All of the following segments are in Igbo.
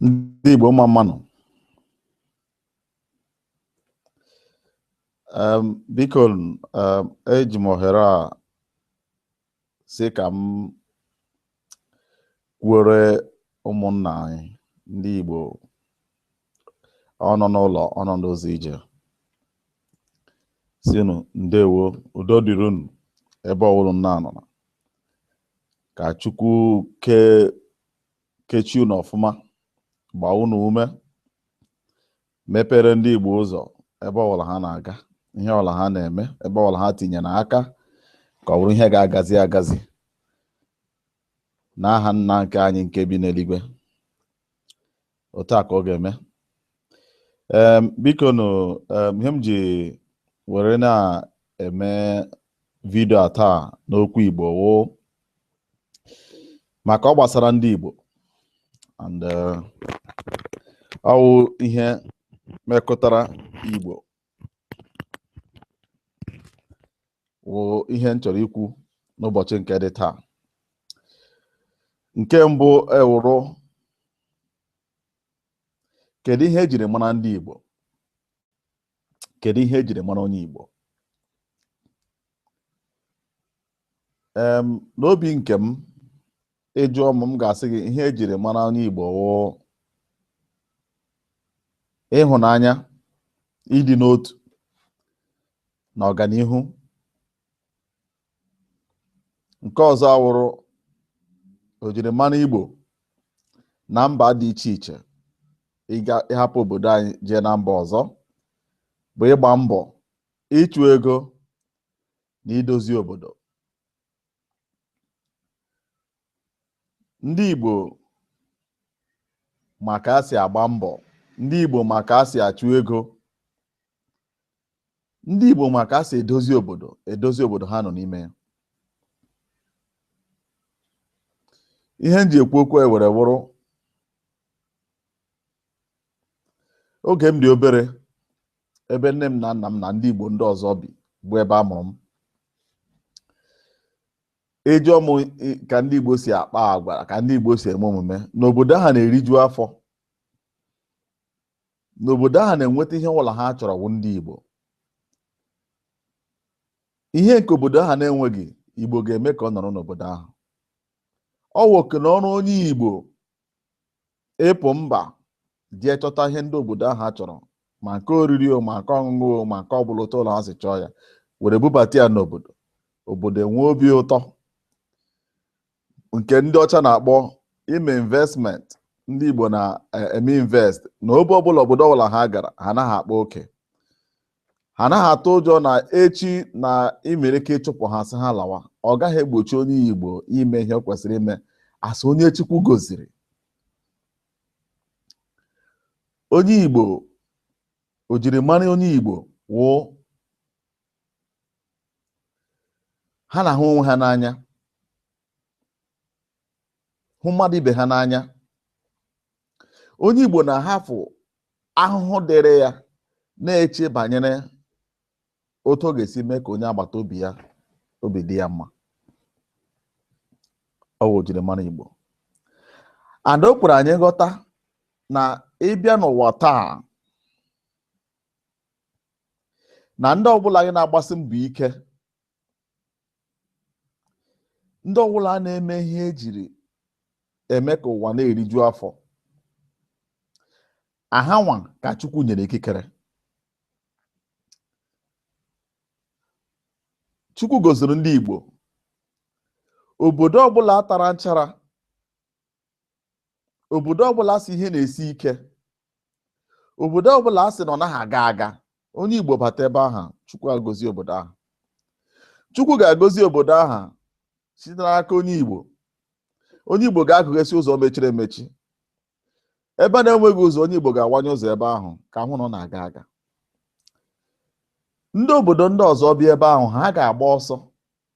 ndị Igbo mma mma nụ biko eji m ohere a sị ka m kwuore ụmụnna anyị ndị Igbo ọ nọ n'ụlọ ọ nọ n'ụzọ ije sị unu ndewo udo dịrị unu ebe ọwụla unu nọ na ka chukwu okike chee unu ọfụma gbaa unu ume mepere ndị igbo ụzọ ebe ọwụla ha na-aga ihe ọwụla ha na-eme ebe ọwụla ha tinyere aka ka ọ bụrụ ihe ga-agazi agazi n'aha nna nke anyị nke bi n'eluigwe otu a ka ọ ga-eme Em, biko nụ em, ihe m ji were na-eme vidio a taa n'okwu Igbo wụ maka ọ gbasara ndị Igbo and eh, ọ wụ ihe mekọtara Igbo wụ ihe m chọrọ ikwu n'ụbọchị nke dị taa nke mbụ ewụrụ kedu ihe ejiri mara ndị Igbo kedu ihe ejiri mara onye Igbo em n'obi nke m ị jụọ m m ga-asị gị ihe ejiri mara onye Igbo wụ ịhụnanya ịdị n'otu na ọganihu nke ọzọ awụrụ ojirimara Igbo na mba dị iche iche ịga ịhapụ obodo anyị jee na mba ọzọ bụ ịgba mbọ ịchụ ego na idozi obodo ndị Igbo ma ka a si agba mbọ ndị Igbo ma ka a si achụ ego ndị Igbo ma ka a si edozi obodo edozi obodo ha nọ n'ime ya ihe m ji ekwu okwu a were wụrụ oge m dị obere ebe nne m na nna m na ndị Igbo ndị ọzọ bi bụ ebe a mụrụ m ị jụọ m ka ndị Igbo si akpa agwa ka ndị Igbo si eme omume n'obodo ahụ na-eriju afọ n'obodo ahụ na-enweta ihe ọwụla ha chọrọ wụ ndị Igbo ihe nke obodo ahụ na-enweghị Igbo ga-eme ka ọ nọrọ n'obodo ahụ ọ wụ oke na ọrụ onye Igbo ịpụ mba jee chọta ihe ndị obodo ahụ chọrọ ma nke oriri o ma nke ọṅụṅụ o ma nke ọbụla otu ọbụla ha si chọọ ya were bubata ya n'obodo obodo enwee obi ụtọ nke ndị ọcha na-akpọ ime investment ndị Igbo na-eme invest na ebe ọbụla obodo ọbụla ha gara ha anaghị akpa oke ha anaghị atụ ụjọ na echi na e nwere ike ịchụpụ ha sị ha lawa ọ gaghị egbochi onye igbo ime ihe o kwesịrị ime as onye chukwu goziri onye igbo ojirimara onye igbo wụ ha na-ahụ onwe ha n'anya hụ mmadụ ibe ha n'anya onye Igbo na-ahafụ ahụhụ dịrị ya na-eche banyere otu ọ ga-esi mee ka onye agbata obi ya obi dị ya mma ọ bụ ojirimara Igbo and o kwere anyị ghọta na ịbịa n'ụwa taa na ndị ọbụla anyị na-agbasi mbọ ike ndị ọbụla na-eme ihe ejiri eme ka ụwa na-eriju afọ ọ hanwa ka Chukwu nyere ikikere Chukwu goziri ndị Igbo obodo ọbụla tara nchara obodo ọbụla a sị ihe na-esi ike obodo ọbụla a sị na ọ naghị aga aga onye Igbo bata ebe ahụ Chukwu agozi obodo ahụ Chukwu ga-agozi obodo ahụ site n'aka onye Igbo onye Igbo ga-agụghesị ụzọ mechiri emechi ebe na-enweghị ụzọ onye Igbo ga-awanye ụzọ ebe ahụ ka a hụ na ọ na-aga aga ndị obodo ndị ọzọ bịa ebe ahụ ha ga-agba ọsọ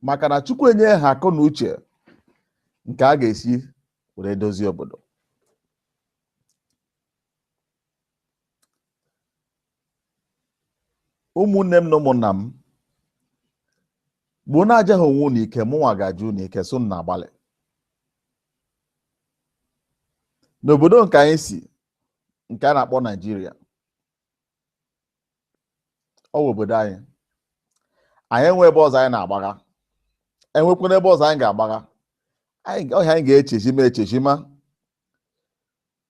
maka na Chukwu enye ha akọ na uche nke a ga-esi were dozie obodo ụmụnne m na ụmụnna m bụ na-ajaghị onwe unu ike mụnwa ga-aja unu ike sị unu na-agbalị n'obodo nke anyị si nke a na-akpọ Naijiria ọ wụ obodo anyị anyị enwe ebe ọzọ anyị na-agbaga enwekwaghị ebe ọzọ anyị ga-agbaga ọ ihe anyị ga-echezima echezima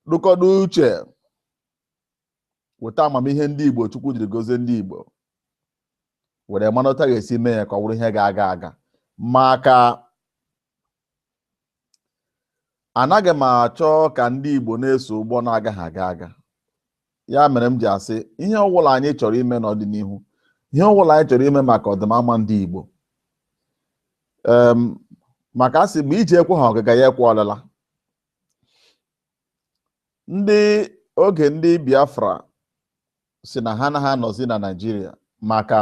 tụkọta uche weta amamihe ndị igbo chukwu jiri gozie ndị igbo were mana otu a ga-esi mee ya ka ọ bụrụ ihe ga-aga aga maka anaghị m achọ ka ndị Igbo na-eso ụgbọ na-agaghị aga aga ya mere m ji asị ihe ọbụla anyị chọrọ ime n'ọdịnihu ihe ọbụla anyị chọrọ ime maka ọdịmama ndị Igbo maka asị mgbe ije ekweghị ọgaga ya ekwe ọlịla and oge ndị Biafra sị na ha anaghị anọzi na Naịjirịa maka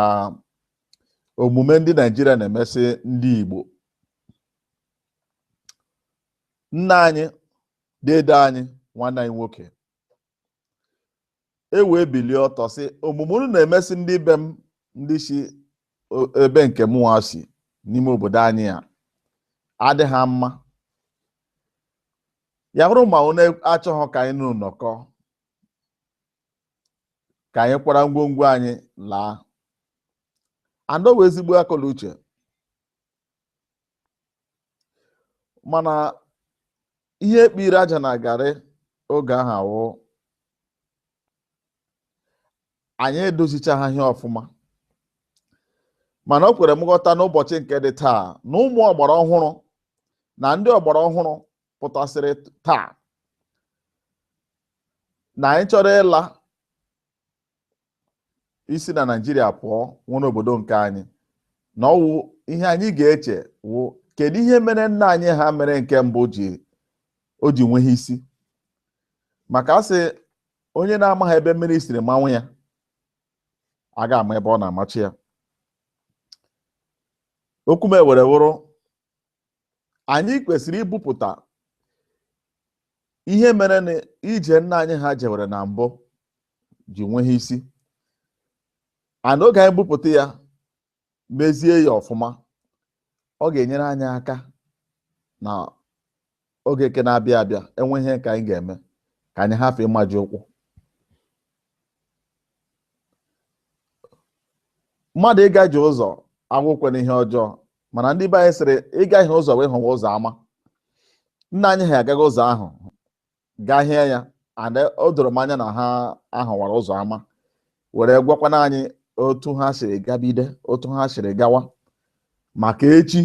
omume ndị Naịjirịa na-emesị ndị Igbo nna anyị dede anyị nwanne anyị nwoke e wee bilie ọtọ sị omume unu na-emesị ndị be m ndị si ebe nke mụnwa si n'ime obodo anyị a adịghị mma ya bụrụ ma unu achọghị ka anyị na unu nọkọ ka anyị kwara ngwongwo anyị laa and ọ wụ ezigbo akọ na uche mana ihe ekpiri aja na garị oge ahụ wụ anyị edozichaghị ihe ọfụma mana o kwere m ghọta n'ụbọchị nke dị taa na ụmụ ọgbara ọhụrụ na ndị ọgbara ọhụrụ pụtasịrị taa na anyị chọrọ ịla isi na Naịjirịa pụọ nwere obodo nke anyị na ọwụ ihe anyị ga-eche wụ kedu ihe mere nna anyị ha mere nke mbụ ji o ji nweghị isi maka asị onye na-amaghị ebe mmiri siri mawa ya a ga-ama ebe ọ na-amachi ya okwu m ewere wụrụ anyị kwesịrị ibupụta ihe mere na ije nna anyị ha jewere na mbụ ji nweghị isi and oge anyị bupụta ya mezie ya ọfụma ọ ga-enyere anyị aka na oge nke na-abịa abịa enwe ihe ka anyị ga-eme ka anyị hafụ ịmaji ụkwụ mmadụ ịgaji ụzọ awụkwanụ ihe ọjọọ mana ndị be anyị sịrị ị gahie ụzọ wee hụwa ụzọ ama nna anyị ha agaghị ụzọ ahụ gahie ya and o doro m anya na ha ahụwara ụzọ ama were gwakwana anyị otu ha siri gabide otu ha siri gawa maka echi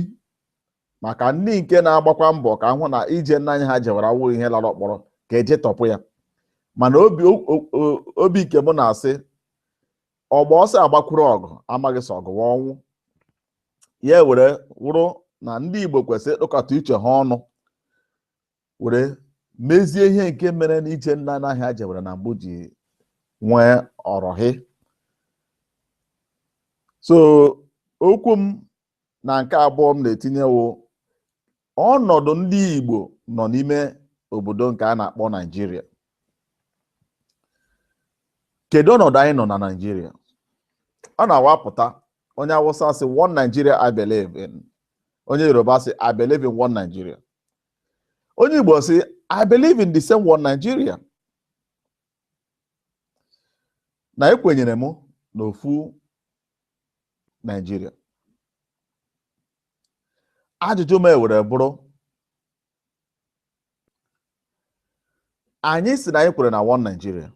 maka ndị nke na-agbakwa mbọ ka a hụ na ije nna anyị ha jewara awụghị ihe lara ọkpọrọ ka e jetọpụ ya mana obi o- o- o- obi nke m na-asị ọgba ọsọ agbakwuru ọgụ amaghị sị ọgụ wụ ọnwụ ya were wụrụ na ndị Igbo kwesịrị ịkpọkọta uche ha ọnụ were mezie ihe nke mere na ije nna anyị ha jewara na mbụ ji nwee ọrọhị so okwu m na nke abụọ m na-etinyewo ọnọdụ ndị Igbo nọ n'ime obodo nke a na-akpọ Naijiria kedu ọnọdụ anyị nọ na Naijiria ọ na-awụ apụta onye Awụsa sị one Nigeria I believe in onye Yoruba sị I believe in one Nigeria onye Igbo sị I believe in the same one Nigeria na ekwenyere m n'ofu Naijiria ajụjụ m ewere bụrụ anyị sị na anyị kwere na one Nigeria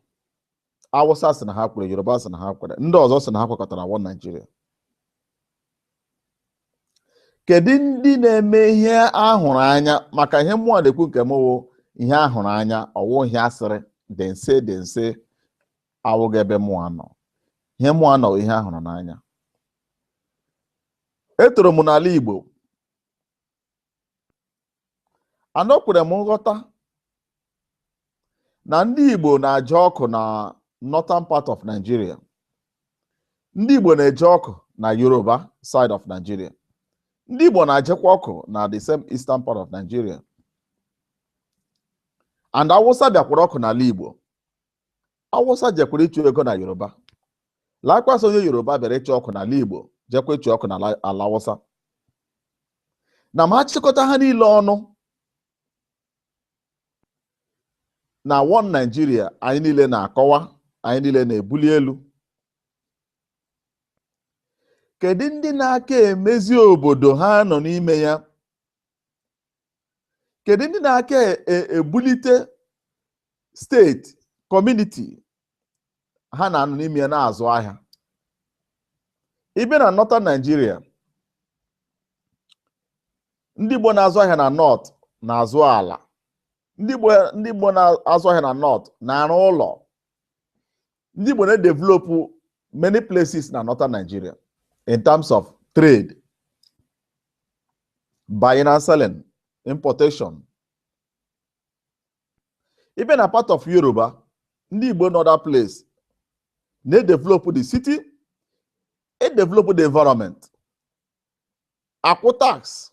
Awụsa sị na ha kwere Yoruba sị na ha kwere ndị ọzọ sị na ha kwekọta na one Nigeria kedu ndị na-eme ihe a hụrụ anya maka ihe mụwa na-ekwu nke m wụ ihe a hụrụ anya ọ wụ ihe asịrị dem say dem say awụghị ebe mụwa nọ ihe mụwa nọ ihe a hụrụ n'anya etoro m n'ala Igbo and o kwere m nghọta na ndị Igbo na-aje ọkụ na northern part of Nigeria ndị Igbo na-eje ọkụ na Yoruba side of Nigeria ndị Igbo na-ajekwa ọkụ na the same eastern part of Nigeria and Awụsa bịakwara ọkụ n'ala Igbo awụsa jekwara ịchụ ego na yoruba likewise onye yoruba bịara ịchụ ọkụ n'ala igbo jekwa ịchụ ọkụ n'ala awụsa na ma a chịkọta ha niile ọnụ na one naijiria anyị niile na-akọwa anyị niile na-ebuli elu kedu ndị na-aka emezi obodo ha nọ n'ime ya kedu ndị na-aka e- e- ebulite steeti kọmuniti ha na-anọ n'ime ya na-azụ ahịa ị bịa na northern Nigeria ndị Igbo na-azụ ahịa na north na-azụ ala ndị Igbo na-azụ ahịa na north na-arụ ụlọ ndị Igbo na-edevelop many places na northern Nigeria in terms of trade buying and selling importation ị bịa na part of Yoruba ndị Igbo nọ that place na-edevelop the city edevelop the environment akwụ tax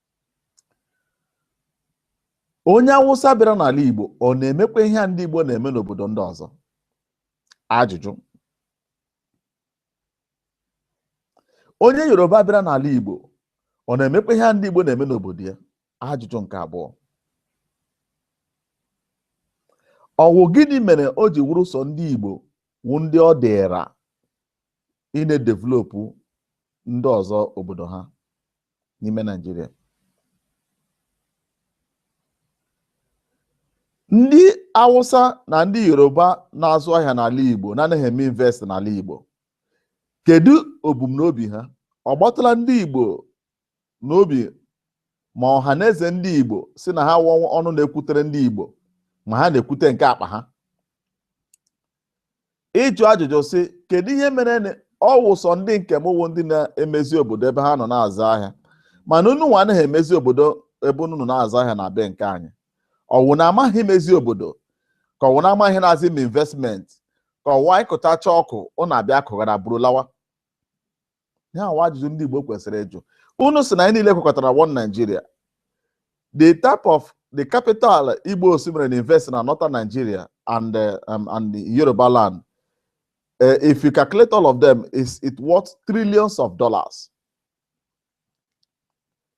onye Awụsa bịara n'ala Igbo ọ na-emekwa ihe a ndị Igbo na-eme n'obodo ndị ọzọ ajụjụ onye Yoruba bịara n'ala Igbo ọ na-emekwa ihe a ndị Igbo na-eme n'obodo ya ajụjụ nke abụọ ọwụ gịnị mere o ji wụrụ sọ ndị Igbo wụ ndị ọ dịra ịna-edevelopu ndị ọzọ obodo ha n'ime Naijiria ndị Awụsa na ndị Yoruba na-azụ ahịa n'ala Igbo na-anaghị eme invest n'ala Igbo kedu obumnobi ha ọ gbatala ndị Igbo n'obi ma Ọhanaeze ndị Igbo sị na ha wụ ọnụ na-ekwutere ndị Igbo ma ha na-ekwute nke akpa ha ịjụ ajụjụ sị kedu ihe mere na ọ wụ sọ ndị nke m wụ ndị na-emezi obodo ebe ha nọ na-azụ ahịa mana unu nwa anaghị emezi obodo ebe unu nọ na-azụ ahịa na be nke anyị ọwụ na amaghị emezi obodo ka ọwụ na amaghị ihe na-azị m investment ka ọwụ anyị kụtacha ọkụ unu abịa kụghara buru lawa ihe a wụ ajụjụ ndị Igbo kwesịrị ịjụ unu sị na anyị niile kwekọtara one Nigeria the type of the capital Igbos mere invest na northern Nigeria and uh, um, and Yoruba land uh, if you calculate all of them it worth trillions of dollars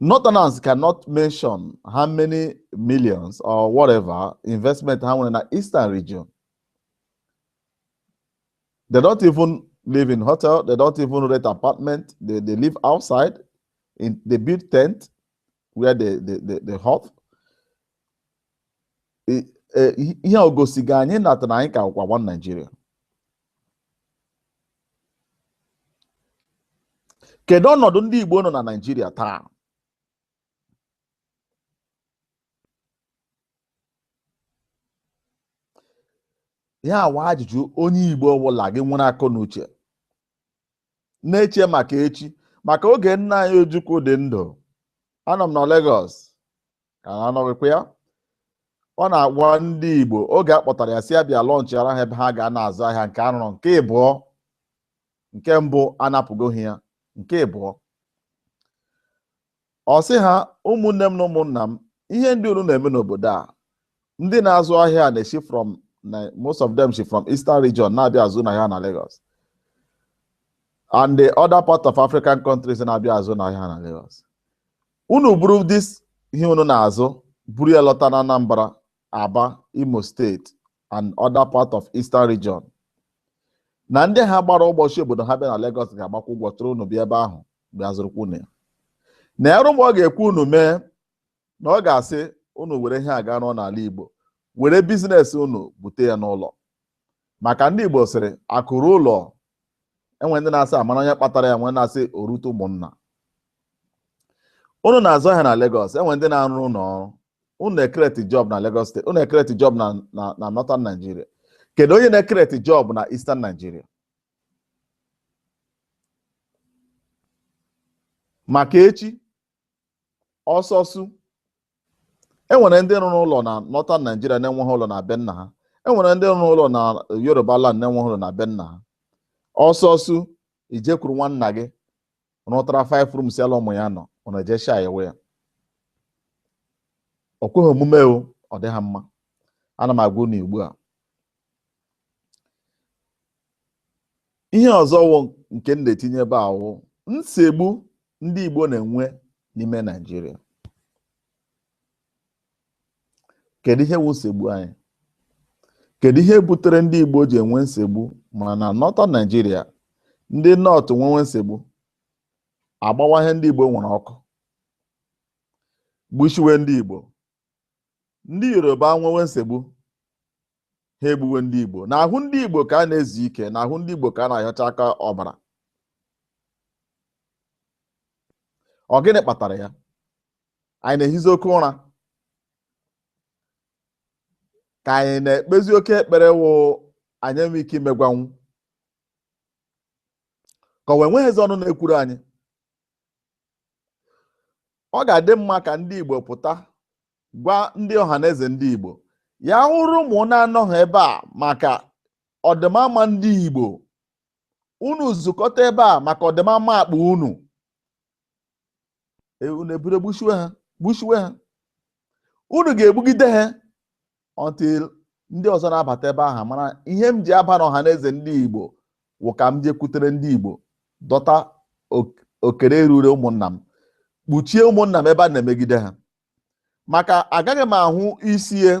Northerners cannot mention how many millions or whatever investment ha nwere na Eastern region. They don't even live in hotel. They don't even rent apartment. They, they live outside. In, they build tent where they, they, they, they hop. I- eh, Ihe a o gosighị anyị natara anyị ka kwa one Nigeria. kedu ọnọdụ ndị Igbo nọ na Naịjirịa taa ihe a wụ ajụjụ onye Igbo ọbụla gị nwere akọ na uche na-eche maka echi maka oge nna anyị Ojukwu dị ndụ anọ m na Lagos ka ha anọghịkwa ya ọ na-agwa ndị Igbo oge a kpọtara ya sị ya bịa lọnchịara ha ebe ha ga na-azụ ahịa nke a rụrụ nke ịbụọ nke mbụ anapụgo ha ya nke ịbụọ ọ sị ha ụmụnne m na ụmụnna m ihe ndị unu na-eme n'obodo a ndị na-azụ ahịa na-esi from most of them si from eastern region na-abịa azụ unu ahịa na Lagos and the other part of African countries na-abịa azụ unu ahịa na Lagos unu buru this ihe unu na-azụ buru ya lọta na Anambra Aba Imo steeti and other part of Eastern region na ndị ha gbara ụgbọ si obodo ha bịa na Lagos ga-agbakwa ụgbọ chọrọ unu bịa ebe ahụ bịa zụrụkwa unu ya na ya rụmụ ọ ga-ekwu unu mee na ọ ga-asị unu were ihe a ga rụọ n'ala Igbo were business unu bute ya n'ụlọ maka ndị Igbo sịrị akụ ruo ụlọ enwe ndị na-asị a mara onye kpatara ya enwe ndị na-asị o rute ụmụnna unu na-azụ ahịa na Lagos enwe ndị na-arụ ụlọ ọrụ unu na-ekreti job na Lagos steeti unu na-ekreti job na Northern Nigeria kedu onye na-ekreti job na Eastern Nigeria maka echi ọsọ sụ e nwere ndị rụrụ ụlọ na northern Nigeria na-enweghị ụlọ na be nna ha e nwere ndị rụrụ ụlọ na Yoruba land na-enweghị ụlọ na be nna ha ọsọ sụ i jekwuru nwanna gị rụtara five rooms ya la ụmụ ya nọ ọ na-eje sha ewe ya ọ kweghị omume o ọ dịghị mma ana m agwa unu ugbu a ihe ọzọ wụ nke m na-etinye ebe a wụ nsogbu ndị Igbo na-enwe n'ime Naịjirịa kedu ihe wụ nsogbu anyị kedu ihe butere ndị Igbo ji enwe nsogbu ma na Northern Naịjirịa ndị North nwewe nsogbu a gbawa ihe ndị Igbo nwere ọkụ gbushiwe ndị Igbo ndị yoruba nwewe nsogbu ha egbuwe ndị igbo n'ahụ ndị igbo ka a na-ezi ike n'ahụ ndị igbo ka a na-ahịọcha aka ọbara ọ gịnị kpatara ya anyị na-ehizi oke ụra ka anyị na-ekpezi oke ekpere wụ anyị enwe ike imegwanwu ka ọ wụ enweghịzi ọnụ na-ekwuru anyị ọ ga-adị mma ka ndị Igbo pụta gwa ndị ọhaneze ndị Igbo ya wụrụ unu na-anọghị ebe a maka ọdịmama ndị Igbo unu zukọta ebe a maka ọdịmama akpa unu e, unu eburu gbushiwe ha gbushiwe ha unu ga-egbugide ha until ndị ọzọ na-abata ebe ahụ mara ihe m ji aba n'ọhaneze ndị Igbo wụ ka m jekwutere ndị Igbo dọta okere ruru ụmụnna m kpuchie ụmụnna m ebe a na-emegide ha maka agaghị m ahụ isi ya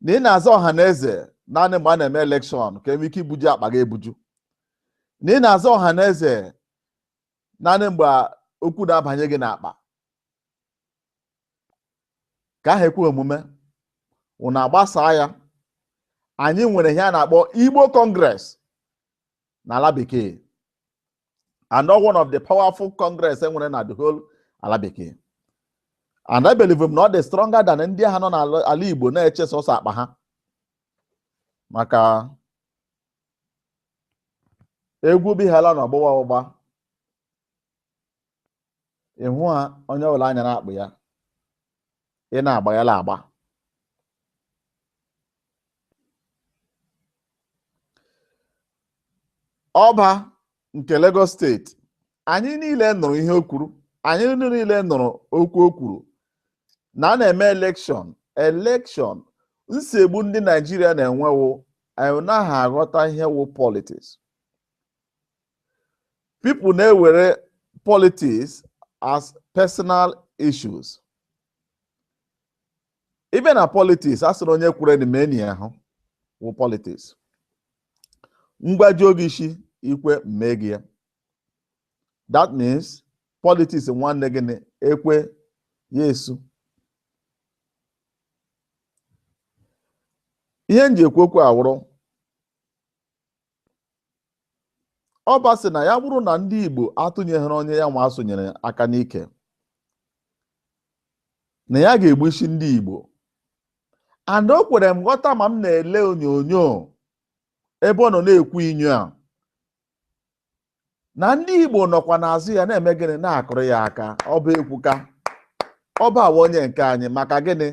na ị na-aza ọhaneze naanị mgbe a na-eme elekshọn ka e nwee ike ibuju akpa gị ebuju na ị na-aza ọhaneze naanị mgbe okwu na-abanye gị n'akpa ka ahụ ekwe omume unu agbasaa ya anyị nwere ihe a na-akpọ Igbo Congress n'ala bekee and one of the powerful Congress e nwere na the whole ala bekee and I believe na ọ dị stronger than ndị ahụ nọ n'ala Igbo na-eche sọsọ akpa ha maka egwu bihala na ọgbụgba ọgbụgba ịhụ ha onye ọbụla anya na-akpụ ya ị na-agba ya la agba ọba nke Lagos steeti anyị niile nụrụ ihe o kwuru anyị niile nụrụ okwu o kwuru na a na-eme elekshọn elekshọn nsogbu ndị Naijiria na-enwe wụ anyị naghị aghọta ihe wụ politiks people na-ewere politiks as personal issues even na politiks a sịrị onye kwuru na meni ahụ wụ politiks ngwajuo gị isi i kwe m mee gị ya that means politiks nwanne gị na ekwe ya esu ihe m ji ekwu okwu a wụrụ ọba sị na ya bụrụ na ndị Igbo atụnyeghịrị onye ya nwa asụnyere aka n'ike na ya ga-egbu isi ndị Igbo and o kwere m nghọta ma m na-ele onyonyo ebe ọ nọ na-ekwu inyo a na ndị Igbo nọkwa n'azụ ya na-eme gịnị na-akụrụ ya aka ọba ekwuka ọba wụ onye nke anyị maka gịnị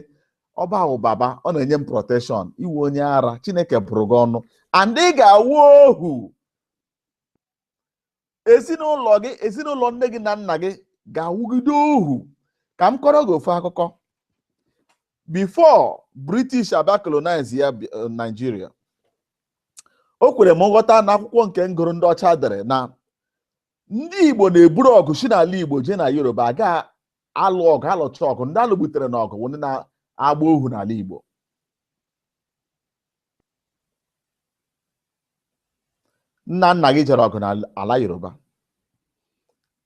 ọba wụ baba ọ na-enye m protekshọn ị wụ onye ara Chineke bụrụ gị ọnụ and ị ga-awụ ohu ezinụlọ gị ezinụlọ nne gị na nna gị ga-awụgide ohu ka m kọọrọ gị ofu akụkọ before British abịa colonize ya eh, Nigeria o kwere m nghọta na akwụkwọ nke m gụrụ ndị ọcha dere na ndị igbo na-eburu ọgụ si n'ala igbo jee na yoruba aga alụ ọgụ alụcha ọgụ ndị a lụgbutere na ọgụ wụ ndị na-agba ohu n'ala igbo nna nna gị jere ọgụ n'ala yoruba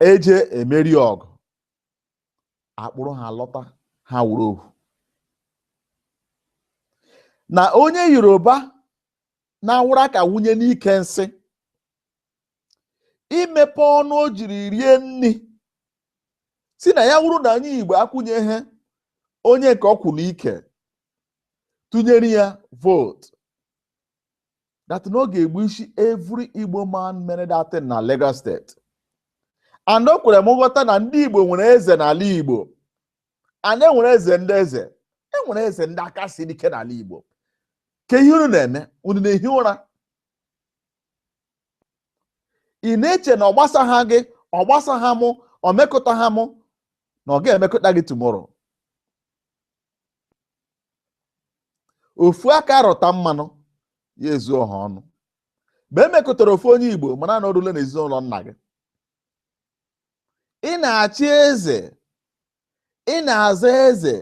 eje emeri ọgụ akpụrụ ha lọta ha wụrụ ohu na onye yoruba na-awụrụ aka wunye n'ike nsị emepe ọnụ o jiri rie nri sị na ya wụrụ na anyị igbo akwụnyeghị onye nke ọ kwụ n'ike tụnyere ya vootu that na ọ ga-egbu isi every Igbo man mere that thing na Lagos steeti and o kwere m nghọta na ndị Igbo nwere eze n'ala Igbo and e nwere eze ndị eze e nwere eze ndị aka si ike n'ala Igbo kee ihe unu na-eme unu na-ehi ụra ị na-eche na ọ gbasaha gị ọ gbasaha mụ ọ mekụtaha mụ na ọ ga-emekụta gị tomorrow ofu aka rụta mmanụ ya ezu ọha ọnụ mgbe e mekọtara ofu onye igbo mara na o rule na ezinụlọ nna gị ị na-achị eze ị na-aza eze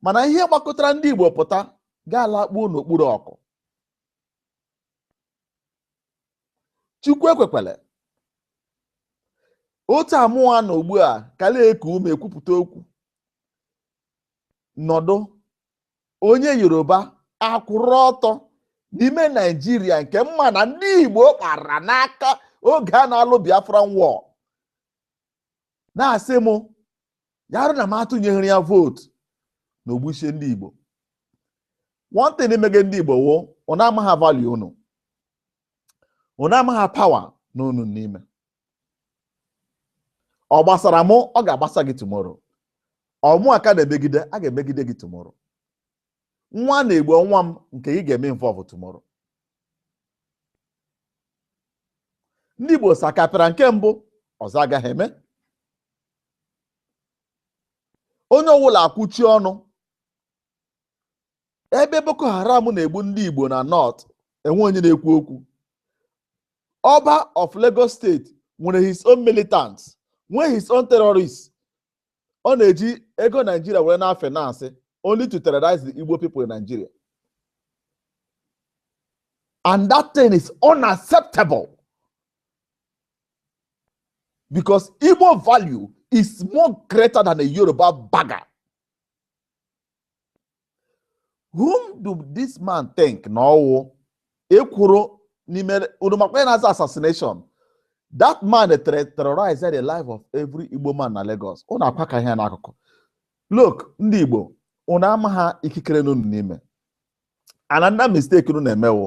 mana ihe gbakọtara ndị igbo pụta ga-alakpuo n'okpuru ọkụ chukwu ekwekwele otu a mụwa nọ ugbu a kala eku ume ekwupụta okwu nọdụ onye yoruba akwụrụ ọtọ n'ime naijiria nke mma na ndị igbo kpara n'aka oge a na-alụ biafran war na-asị m ya arụ na m atụnyeghịrị ya vootu na o gbuchie ndị Igbo one thing emege ndị Igbo wụ unu amagha value unu unu amagha power nọ unu n'ime ọ gbasara mụ ọ ga-agbasa gị tomorrow ọ mụwa ka a na-emegide a ga-emegide gị tomorrow nwa a na-egbu ọ nwa m nke gị ga-eme involve tomorrow ndị Igbo sakapịra nke mbụ ọzọ agaghị eme onye ọwụla akwụchie ọnụ ebe Boko Haram na-egbu ndị Igbo na North enwe onye na-ekwu okwu Oba of Lagos State nwere his own militants nwee his own terrorists ọ na-eji ego naijiria were na finance only to terrorize the igbo people in nigeria and that thing is unacceptable because igbo value is more greater than a yoruba bagger whom do this man think na ọ wụ ekwuru n'ime unu makwa ya na-aza assassination that man terrorize the life of every Igbo man na Lagos unu akwa ka ihe n'akụkụ look ndị Igbo unu amagha ikikere nọ unu n'ime another mistake unu na-eme wụ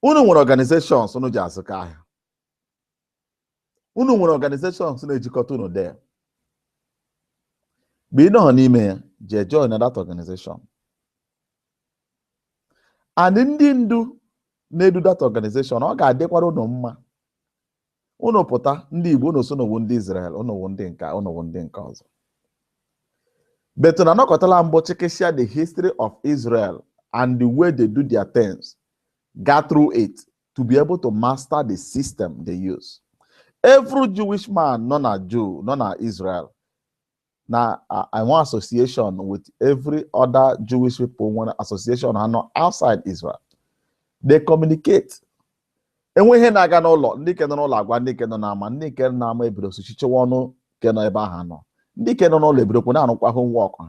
unu nwere organizations unu ji azụkọ ahịa unu nwere organizations na-ejikọta unu there mgbe ị nọghọ n'ime ya jee join na that organization and ndị ndu na-edu that organization ọ ga-adịkwara unu mma unu pụta ndị Igbo unu sị unu wụ ndị Israel unu wụ ndị nka unu wụ ndị nke ọzọ but unu anọkọtala mbụ chekesịa the history of Israel and the way they do their things go through it to be able to master the system they use. Every Jewish man, nọ na Jew, nọ na Israel, nọ in one association with every other Jewish people, nwere association ha nọ outside Israel. They communicate. e nwee ihe na-aga n'ụlọ ndị nke nọ n'ụlọ agwa ndị nke nọ n'ama ndị nke nọ n'ama ebido sochichewa ọnụ nke nọ ebe ha nọ ndị nke nọ n'ụlọ ebidokwu na-arụkwa homework ha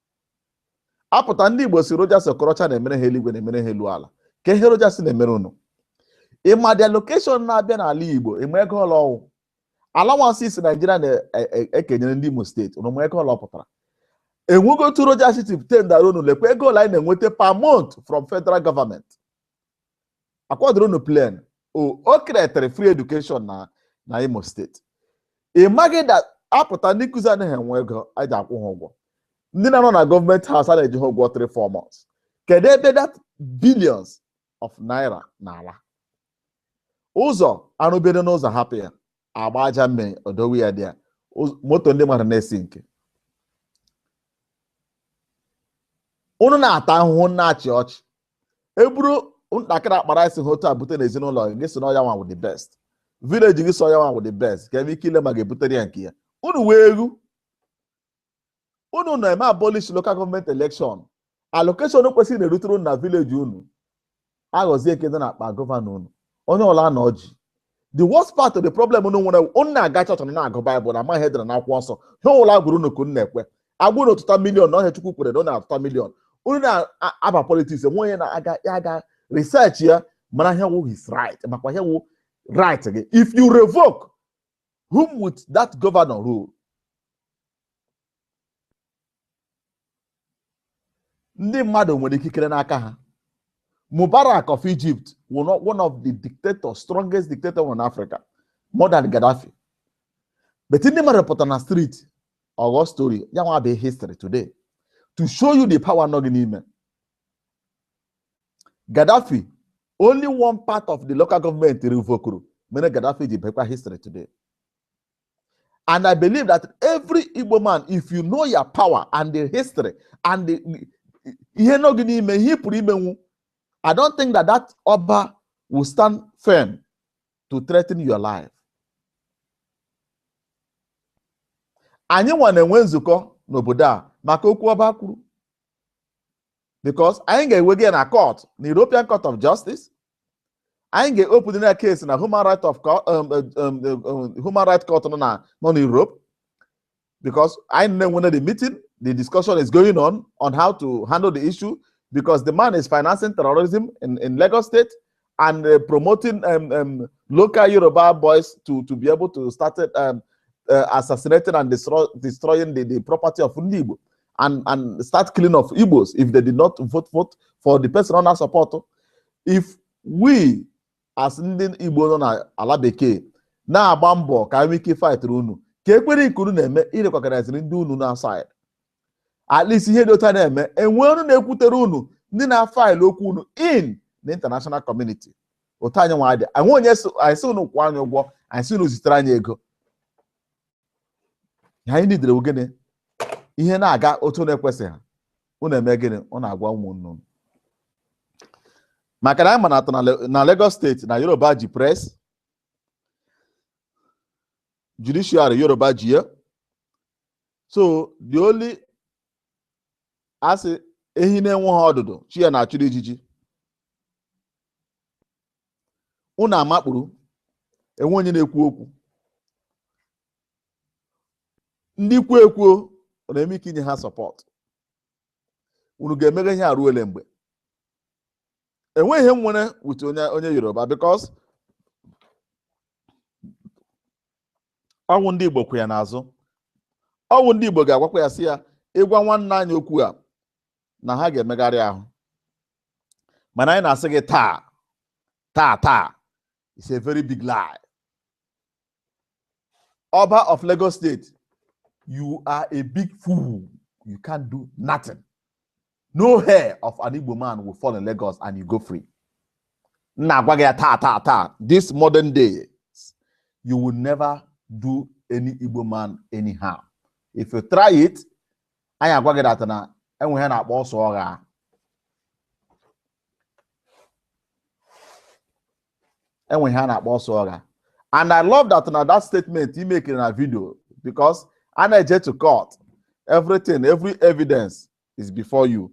a pụta ndị Igbo sị Rochas Okorocha na-emere ha eluigwe na-emere ha elu ala ka ihe Rochas na-emere unu ị ma the allocation na-abịa n'ala Igbo ị ma ego ole ọ wụ allowances Naijiria na-ekenyere e, e, e ndị Imo steeti unu ma ego ole ọ pụtara enwego otu Rochas si tendara unu lekwa ego ole anyị na-enweta per month from federal government akwadoro unu plan o o kretere free education na na imo steeti ị maghị that a pụta ndị nkụzi anaghị enwe ego a ji akwụ ha ụgwọ ndị na-anọ na gọọmenti haus a na-eji ha ụgwọ 3 4 months kedu ebe that billions of naira na-ala ụzọ a rụbere n'ụzọ hapụ ya a gbaa aja mmiri odowe ya dị ya Ụz- moto ndị mmadụ na-esi nke unu na-ata ahụhụ na-achị ọchị e buru ntakịrị akpa raịsị ha otu a bute n'ezinụlọ gị gị sị na ọ ya nwa wụ the best vileji gị sị ọ ya nwa wụ the best ka ebe ike ile ma ga-ebutere ya nke ya unu wee egwu unu na-eme abolish local gọọmenti elekshọn allocation kwesịrị na-erutere unu na vileji unu aghọzie nke dị na akpa gọvanọ unu onye ọla anọ jii the worst part of the problem unu nwere unu na-aga chọọchị na na-agụ baịbụl na amaghị edere na akwụkwọ nsọ ha ole a gụọrọ unu ka unu na-ekwe a gụọ na ọ tụta miliọn na ọhịa chukwu kwere na ọ na-atụta miliọn unu na-aba politiks enwe onye na-aga ya aga research ya mara ihe wụ his right makwa ihe wụ right gị if you revoke whom would that governor rule? ndị mmadụ nwere ikikere n'aka ha Mubarak of Egypt wụnụ one of the dictators strongest dictator in Africa more than Gaddafi but ndị mmadụ pụtara na street ọ ghọọ story ya nwa bụ history today to show you the power nọ gị n'ime Gaddafi only one part of the local government revokuru mere Gaddafi ji bụkwa history today and I believe that every Igbo man if you know your power and the history and the ihe nọ gị n'ime ihe ị pụrụ imenwu I don't think that that Oba will stand firm to threaten your life. anyị nwa na-enwe nzukọ n'obodo a maka okwu ọba kwuru because anyị ga-ewega na court na European Court of Justice anyị ga-open na case na Human Right of um, um, um, Human Right Court nọ na nọ na Europe because anyị na-enwene the meeting the discussion is going on on how to handle the issue because the man is financing terrorism in, in Lagos State and uh, promoting um, um, local Yoruba boys to, to be able to start um, uh, assassinating and destroy, destroying the, the property of ndị Igbo and, and start killing of Igbos if they did not vote, vote for the person ọ na-asupport. If we as ndị Igbo nọ na ala bekee na-agba mbọ ka anyị nwee ike fightrị unu ka ekwere ikuru na-eme irecognizeri ndị unu nọ outside at least ihe dị otu a na-eme enwee ọnụ na-ekwutere unu ndị na-afaịlụ okwu unu in the international community otu anyị nwa dị anyị onye anyị sị unu kwụọ anyị ụgwọ anyị sị unu zitere anyị ego ihe anyị nidere wụ gịnị ihe na-aga otu na-ekwesịghị unu eme gịnị unu agwa ụmụnne unu maka na anyị ma na atọ na Lagos State na Yoruba ji press judiciary Yoruba ji ya so the only a sị ehi na-enweghị ọdụdụ chi ya na-achụrụ ijiji unu amakpuru enweghị onye na-ekwu okwu ndị kwuo ekwuo ọ na-eme ike inye ha support unu ga-emeghe ihe a ruo ole mgbe enweghị ihe m nwere with onye onye Yoruba because ọ wụ ndị Igbo kwụ ya n'azụ ọ wụ ndị Igbo ga-agwakwa ya sị ya ị gwa nwanne anyị okwu a na ha ga-emegharị ahụ mana anyị na-asị gị taa taa taa it's a very big lie Oba of Lagos State you are a big fool you can't do nothing no hair of an Igbo man will fall in Lagos and you go free m na-agwa gị ya taa taa taa this modern day you will never do any Igbo man anyhow if you try it anyị agwa gị that na e nwe ihe a na-akpọ ọsọ ọgha e nwe ihe a na-akpọ ọsọ ọgha and I love that na that statement i make na video because a na-eje to court everything every evidence is before you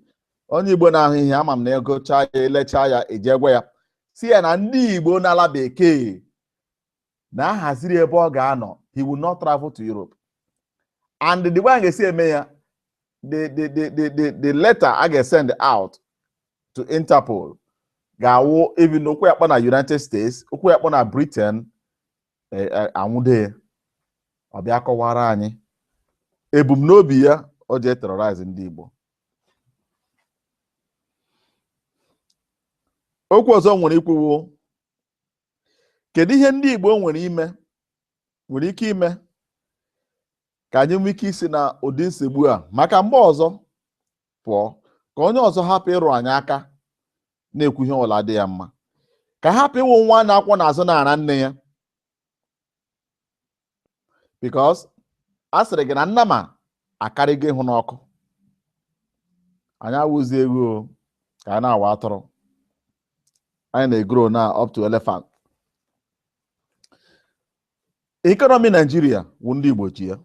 onye Igbo na-ahụ ihe a ama m na egechaa ya elechaa ya eje gwa ya sị ya na ndị Igbo n'ala bekee na a haziri ebe ọ ga-anọ he will not travel to Europe and the way anyị ga-esi eme ya the the the the the, the letter a ga-send out to Interpol ga-awụ even ụkwụ ya kpọ na United States ụkwụ ya kpọ na Britain e, e, a nwụde ya ọ bịa kọwara anyị ebumnobi ya o ji eterrorize ndị Igbo okwu ọzọ m nwere ikwu wụ kedu ihe ndị Igbo nwere ime nwere ike ime ka anyị nwee ike isi na ụdị nsogbu a maka mgbe ọzọ pụọ ka onye ọzọ hapụ ịrụ anyị aka na-ekwu ihe ọ wụla dị ya mma ka a hapụ ịwụ nwa a na-akwọ n'azụ na-ara nne ya because a sịrị gị na nnama akarịgo ịhụ n'ọkụ anyị awụzị eghu ka anyị na-awụ atụrụ anyị na-egro na up to elephant economy Nigeria wụ ndị Igbo ji ya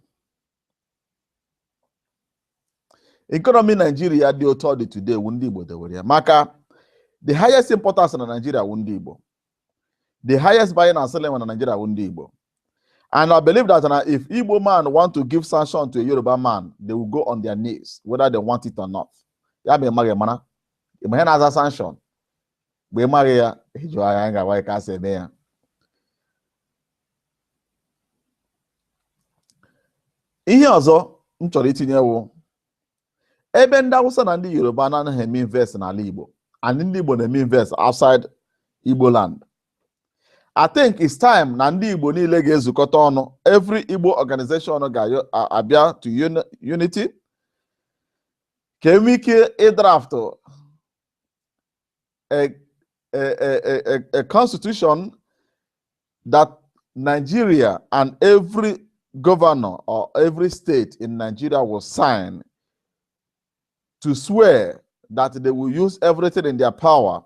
economy Nigeria dị otu ọ dị today wụ ndị Igbo dewere ya maka the highest importers na Nigeria wụ ndị Igbo the highest buying and selling na Nigeria wụ ndị Igbo and I believe that na if Igbo man want to give sanction to a Yoruba man they will go on their knees whether they want it or not ya ma ị maghị mara ị ma ihe na-aza sanction mgbe ị maghị ya ị jụọ anyị anyị ga-agwa gị ka a sị eme ya ihe ọzọ m chọrọ itinye wụ ebe ndị Hausa na ndị Yoruba anaghị eme invest n'ala Igbo and ndị Igbo na-eme invest outside Igbo land I think it's time na ndị Igbo niile ga-ezukọta ọnụ every Igbo organization ga-abịa to unity ka e nwee ike ịdraftụ a, a, a, a, a constitution that Nigeria and every governor or every state in Nigeria will sign to swear that they will use everything in their power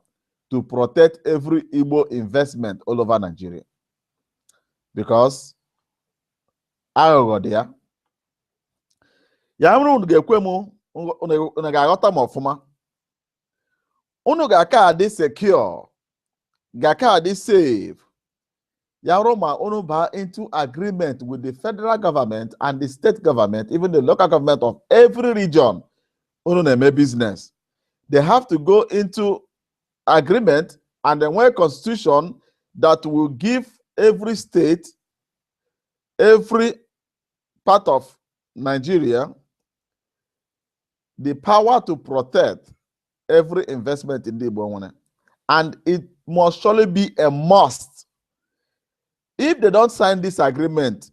to protect every Igbo investment all over Nigeria. Because aghụghọ dị ya. Ya mere unu ga-ekwe m unu ga-aghọta m ọfụma unu ga-aka adị secure ga-aka adị safe ya ruo ma unu baa into agreement with the federal government and the state government even the local government of every region unu na-eme business they have to go into agreement and then nwee constitution that will give every state every part of Nigeria the power to protect every investment ndị Igbo nwere and it must surely be a must. If they don't sign this agreement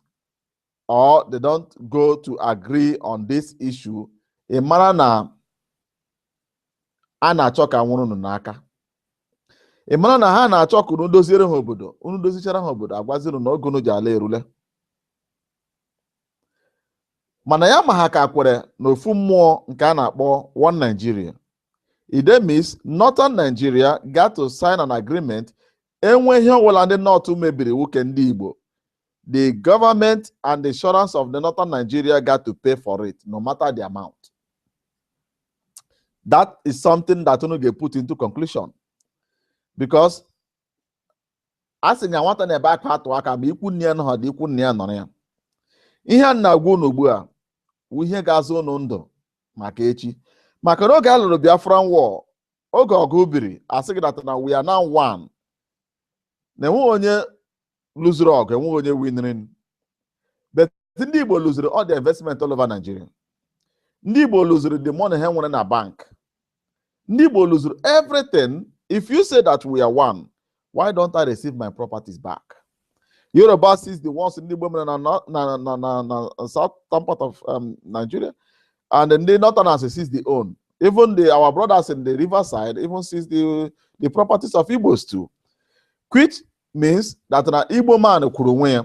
or they don't go to agree on this issue, ị mara na a na-achọ ka nwụrụ unu n'aka ị mara na ha na-achọ ka unu doziere ha obodo unu dozichara ha obodo a gwazie unu na oge unu ji ala erule mana ya ma ha ka kwere n'ofu mmụọ nke a na-akpọ One Nigeria it means Northern Nigeria got to sign an agreement e nwee ihe ọbụla ndị North mebiri wụ nke ndị Igbo the government and the insurance of the Northern Nigeria got to pay for it no matter the amount that is something that unu ga-put into conclusion because a sị na nwata na-ebe akwa atụ aka ma ikwu nne ya anọghịdị ikwu nna ya nọrọ ya ihe a na-agwa unu ugbu a wụ ihe ga-azọ unu ndụ maka echi maka na oge a lụrụ Biafran War oge ọgụ biri a sị gị that na we are now one na enweghị onye luziri ọgụ enweghị onye winiri but ndị Igbo luziri all the investment all over Nigeria ndị Igbo luziri the money ha nwere na bank ndị Igbo luziri everything if you say that we are one why don't I receive my properties back Yoruba seize the ones ndị Igbo mere na na na na na southern part of um, Nigeria and ndị northerners seize the own even the our brothers in the riverside even seize the the properties of Igbos too quit means that na Igbo man kwuru onwe ya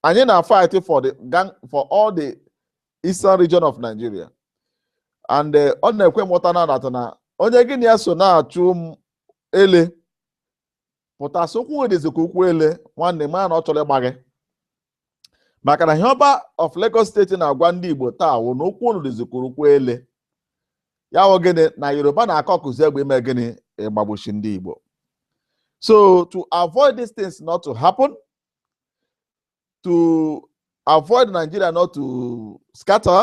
anyị na fight for for all the eastern region of Nigeria and eh, ọ na-ekwe m nghọta na that na onye gị na ya so na-achụ ele pụta sị ụkwụ gị dịzi ka ụkwụ ele nwanne ma na ọ chọrọ ịgba gị maka na ihe ọba of Lagos State na-agwa ndị Igbo taa wụ na ụkwụ unu dịzi ka ụkwụ ele ya wụ gịnị na Yoruba na-akọkụzi egbe ime gịnị ịgbagbusi ndị Igbo so to avoid these things not to happen to avoid Nigeria not to scatter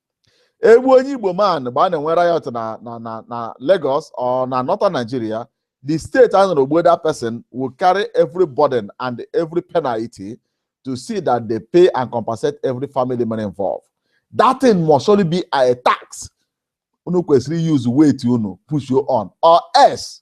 egbuo onye igbo man mgbe a na-enwe riot na na na na Lagos or na northern Nigeria the state a nọrọ gbuo that person will carry every burden and every penalty to see that they pay and compensate every family member involved that thing must surely be a task unu kwesịrị use weight unu push you on or else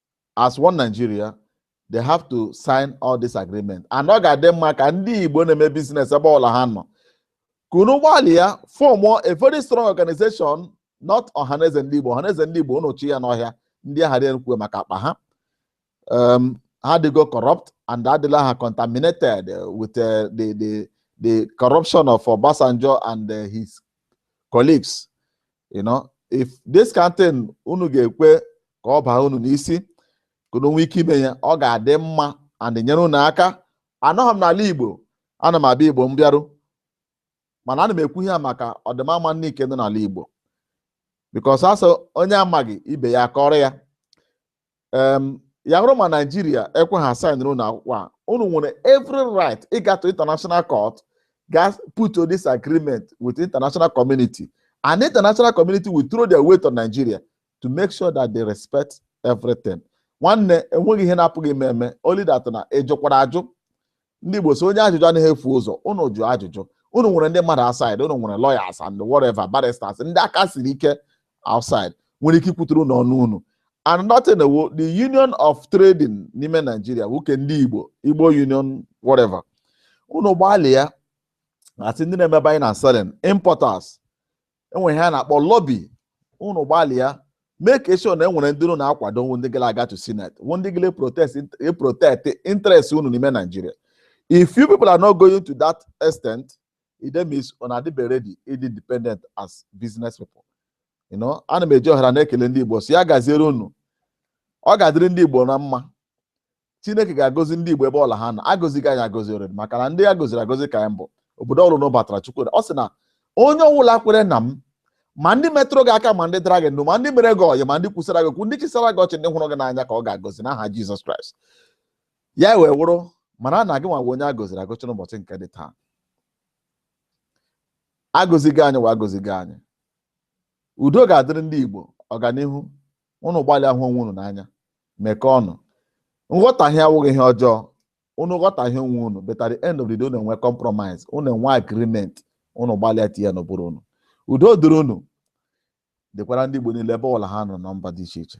as one Nigeria they have to sign all this agreement and ọ ga-adị mma ka ndị Igbo na-eme biznes ebe ọbụla ha nọ ka unu gbalịa form a very strong organization not ọhaneze ndị Igbo ọhaneze ndị Igbo unu chi ya n'ọhịa ndị ahụ dị kwuo maka akpa ha um, ha adịgo corrupt and adịla ha contaminated with uh, the, the, the corruption of Obasanjo and uh, his colleagues you know if this kind thing unu ga-ekwe ka ọ baa unu n'isi ka unu nwee ike ime ya ọ ga-adị mma and nyere unu aka anọghị m n'ala igbo ana m abịa igbo mbịaru mana ana m ekwu ihe a maka ọdịmma nwanne nke nọ n'ala igbo because a sị onye amaghị ibe ya akọọrọ ya em ya bụrụ ma naijiria ekwe ha sainụrụ unu akwụkwọ a unu nwere every right ịga to international court ga put this agreement with international community and international community will throw their weight on nigeria to make sure that they respect everything nwanne enweghị ihe na-apụghị ime eme only that na ị jụkwara ajụ ndị Igbo sị onye ajụjụ anaghị efu ụzọ ụnụ jụọ ajụjụ ụnụ nwere ndị mmadụ outside ụnụ nwere lawyers and whatever barristers ndị aka siri ike outside nwere ike ikwutere ụnụ ọnụ unu and nothing ewo the union of trading n'ime Nigeria wụ nke ndị Igbo Igbo union whatever ụnụ gbalịa as ndị na-eme buying and selling importers enwere ihe a na-akpọ lobby unu gbalịa make sure na enwere ndị unu na-akwado wụ ndị ga na-aga to senate wụ ndị ga na protect interest unu n'ime Nigeria if you people are not going to that extent it then means unu adịbe ready ịdị independent as business people you know ana m eji ohere a na-ekele ndị Igbo sị ya gaziere unu ọ ga-adịrị ndị Igbo na mma chineke ga-agọzi ndị igbo ebe ọwụla ha nọ a gọzigo anyị agọzi already maka na ndị a gọziri agọzi ka anyị bụ obodo ọwụla a batara chukwu ọ sị na onye ọwụla kwere na m ma ndị metụrụ gị aka ma ndị dara gị ndụ ma ndị mere gị ọyị ma ndị kwusara gị okwu ndị chịsara gị ọchị ndị hụrụ gị n'anya ka ọ ga-agọzi n'aha jizọs kraịst ya wee wụrụ mara na gị wụ onye a gọziri agọzi n'ụbọchị nke dị taa a gọzigo anyị wa a gọzigo anyị udo ga-adịrị ndị igbo ọganihu unu gbalịa hụ onwe unu n'anya mekọọ ọnụ nghọtahie awụghị ihe ọjọọ unu ghọtahie onwe unu but at the end of the day unu enwe compromise unu enwe agreement unu gbalịa tinye ya n'ụbụrụ unu udo dịrị unu dịkwara ndị Igbo niile ebe ọwụla ha nọ na mba dị iche iche